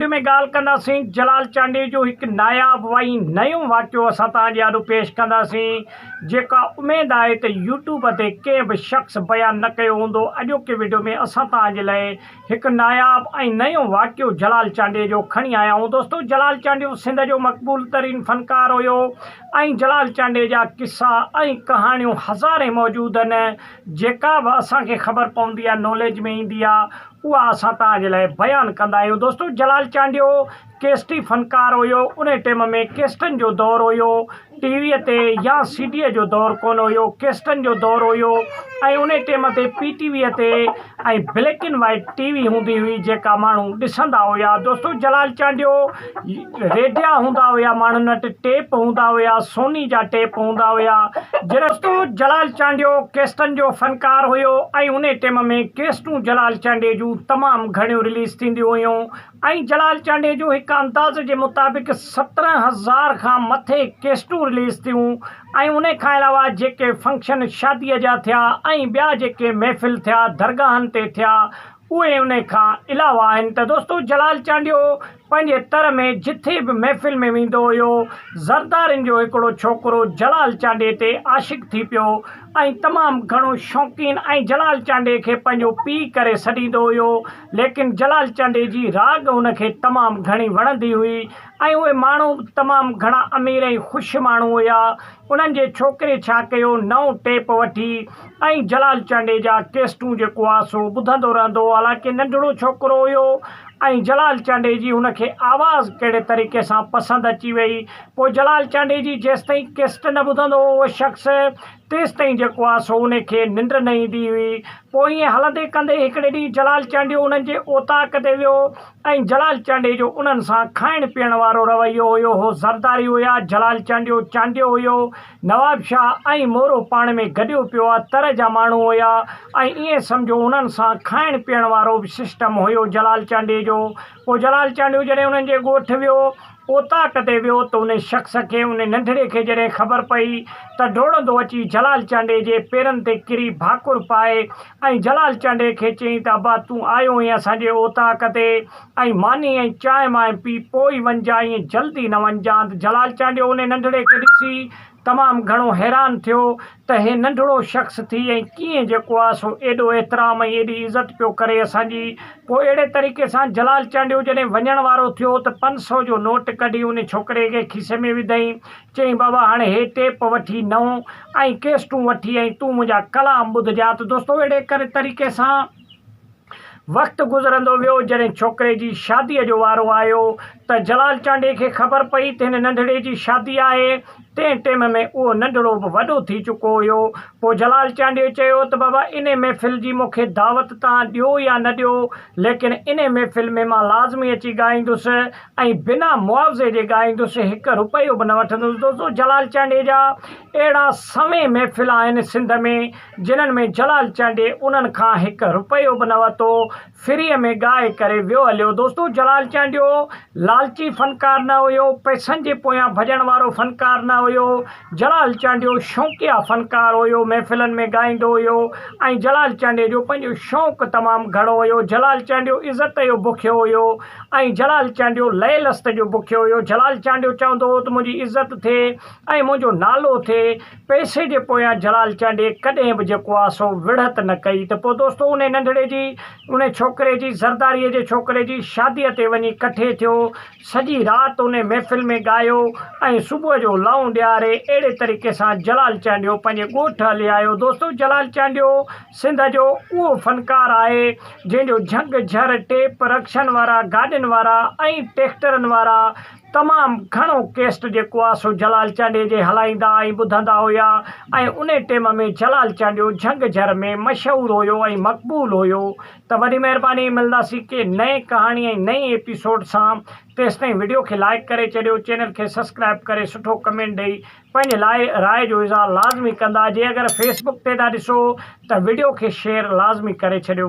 وچ ۾ ڳالهه ڪنداسين جلال چانڊيي جو هڪ ناياب وائين نيون واقعو اسان توهان جي آڏو پيش ڪنداسين جيڪا اميد آهي ته يوٽيوب تي ڪنهن به شخص بيان نه ڪيو هوندو اڄوڪي وڊيو ۾ اسان توهان جي لئي هڪ ناياب ۽ نيون واقعو جلال چانڊيي جو کڻي آيا آهيون دوستو جلال چانڊيو سنڌ جو مقبول ترين فنڪار هيو ۽ جلال چانڊيي جا قصا ۽ ڪهاڻيون هزارين موجود هن جيڪا به اسان کي خبر پوندي آهي ناليج ۾ ايندي آهي اها اسان توهان جي لاء بيان ڪندا آهيون دوستو جلال چانڊيو ڪيسٽي فنڪار هيو انهي ٽيم ۾ ڪيسٽن جو دور هيو ٽي وي تي يا سي ڊي جو دور ڪونه هيو ڪيسٽن جو دور هيو ۽ انهي ٽيم تي پي ٽي وي تي ۽ black and white T V هوندي هئي جيڪا ماڻهو ڏسندا هيا دوستو جلال چانڊيو ريڊيا هوندا هيا، ماڻهن وٽ ٽيپ هوندا هيا، سوني جا ٽيپ هوندا هيا. جرستو جلال چانڊيو ڪيسٽن جو فنڪار هيو ۽ انهي ٽيم ۾ ڪيسٽون جلال چانڊيي جون تمام گهڻيون رليز ٿينديون هيون ۽ جلال چانڊيي جون هڪ اندازي جي مطابق سترهن هزار کان مٿي ڪيسٽون رليز ٿيون ۽ انهي کان علاوه جيڪي فنڪشن شادي جا ٿيا ۽ ٻيا جيڪي محفل ٿيا درگاهن تي ٿيا اهي انهي کان علاوه آهن ته دوستو جلال چانڊيو پنهنجي تر ۾ جٿي به محفل ۾ ويندو هيو زردارين جو هڪڙو ڇوڪرو جلال چانڊي تي عاشق ٿي پيو ۽ تمام گهڻو شوقين ۽ جلال چانڊي کي پنهنجو پيء ڪري سڏيندو هيو ليڪن جلال چانڊي جي راڳ هن کي تمام گهڻي وڻندي هئي ۽ اهي ماڻهو به تمام گهڻا امير ۽ خوش ماڻهو هيا انهن جي ڇوڪري ڇا ڪيو نئون ٽيپ وٺي ۽ جلال چانڊيي جا ڪيسٽون جيڪو آ سو ٻڌندو رهندو هو حالانڪه ننڍڙو ڇوڪرو هيو ۽ جلال چانڊيي جي هن کي آواز ڪهڙي طريقي سان پسند اچي وئي پوء جلال چانڊيي جي جيستائين ڪيسٽ نه ٻڌندو هو اهو شخص تيستائين جيڪو آ سو انهي کي ننڊ نه ايندي هئي پوء ائين هلندي ڪندي هڪڙي ڏينهن جلال چانڊيو انهن جي اوطاق تي ويو ۽ جلال چانڊيي جو انهن سان کائڻ پيئڻ وارو رويو هيو هو زرداري هيا جلال چانڊيو چانڊيو هيو نواب شاهه ۽ مورو پاڻ ۾ گڏيو پيو آ تر جا ماڻهو هيا ۽ ائين سمجهو انهن سان کائڻ پيئڻ وارو به سسٽم هيو جلال چانڊيي جو پوء جلال چانڊيو جڏهن انهن جي ڳوٺ ويو اوطاق تي ويو ته ان شخص کي ان ننڍڙي کي جڏهن خبر پئي ته ڊوڙندو اچي جلال چانڊئي جي پيرن تي ڪري ڀاڪر پائي ۽ جلال چانڊئي کي چيائين ته ابا تون آيو هئين اسان جي اوطاق تي ۽ ماني ۽ چانهه مانهه پي پوء ئي وڃجانء ائين جلدي نه وڃجانء ته جلال چانڊيو ان ننڍڙي کي ڏسي تمام گهڻو حيران ٿيو ته هي ننڍڙو شخص ٿي ۽ ڪيئن جيڪو آهي سو ايڏو احترام ۽ ايڏي عزت پيو ڪري اسان جي. پوء اهڙي طريقي سان جلال چانڊيو جڏهن وڃڻ وارو ٿيو ته پنج سئو جو نوٽ ڪڍي انهي ڇوڪري کي کيسي ۾ وڌائين. چيائين بابا هاڻي هي ٽيپ وٺي نئون ۽ ڪيسٽون وٺي ۽ تون منهنجا ڪلام ٻڌجان ته دوستو اهڙي طريقي سان. وقت گذرندو ويو جڏهن ڇوڪري جي شاديء جو وارو آيو ته جلال چانڊيي کي خبر پئي ته هن ننڍڙي جي شادي آهي. تنهن ٽيم ۾ اهو ننڍڙو به وڏو ٿي چڪو هيو. پوء جلال چانڊيي چيو ته بابا انهي محفل جي مون کي دعوت توهان ڏيو يا نه ڏيو ليڪن انهي محفل ۾ مان لازمي اچي ڳائيندس ۽ بنا معاوضي جي ڳائيندس هڪ رپيو به نه وٺندس دوستو جلال چانڊيي جا اهڙا سوين محفل آهن سنڌ ۾ جنھن ۾ جلال چانڊيي انھن کان ھڪ رپيو به نه ورتو، فريء ۾ ڳائي ڪري ويو ھليو. دوستو جلال چانڊيو لالچي فنڪار نه ھيو، پئسن جي پويان ڀڄڻ وارو فنڪار نه ھيو، جلال چانڊيو شونقيا فنڪار ھيو، محفلن ۾ ڳائيندو ھيو ۽ جلال چانڊيي جو پنھنجو شونق تمام گھڻو ھيو، جلال چانڊيو عزت جو بکيو ھيو ۽ جلال چانڊيو لئه لست جو بکيو ھيو، جلال چانڊيو چوندو ھو ته منھنجي عزت ٿئي ۽ منھنجو نالو ٿئي، پئسي جي پويان جلال چانڊيي ڪڏهن به جيڪو آ سو وڙهت نه ڪئي ته پوء دوستو انهي ننڍڙي جي انهي ڇوڪري جي زرداريء جي ڇوڪري جي شاديء تي وڃي ڪٺي ٿيو، سڄي رات انهي محفل ۾ ڳايو ۽ صبح جو لائون ڏياري اهڙي طريقي سان جلال چانڊيو پنهنجي ڳوٺ هلي آيو دوستو جلال چانڊيو سنڌ جو اهو فنڪار آهي جنهن جو جهنگ جهر ٽيپ رڪشن وارا گاڏين وارا ۽ ٽيڪٽرن وارا تمام گهڻو ڪيسٽ جيڪو آ سو جلال چانڊيي جي هلائيندا ۽ ٻڌندا هيا ۽ انهي ٽيم ۾ جلال چانڊيو جهنگ جهر ۾ مشهور هيو ۽ مقبول هيو ته وڏي مهرباني ملنداسين ڪي نئين ڪهاڻي ۽ نئين ايپيسوڊ سان تيستائين وڊيو کي لائيڪ ڪري چڏيو چينل کي سسڪرائب ڪري سٺو ڪمينٽ ڏئي پنهنجي لاء راء جو اظهار لازمي ڪندا جي اگر فيسبڪ تي ٿا ڏسو ته وڊيو کي شيئر لازمي ڪري ڇڏيو.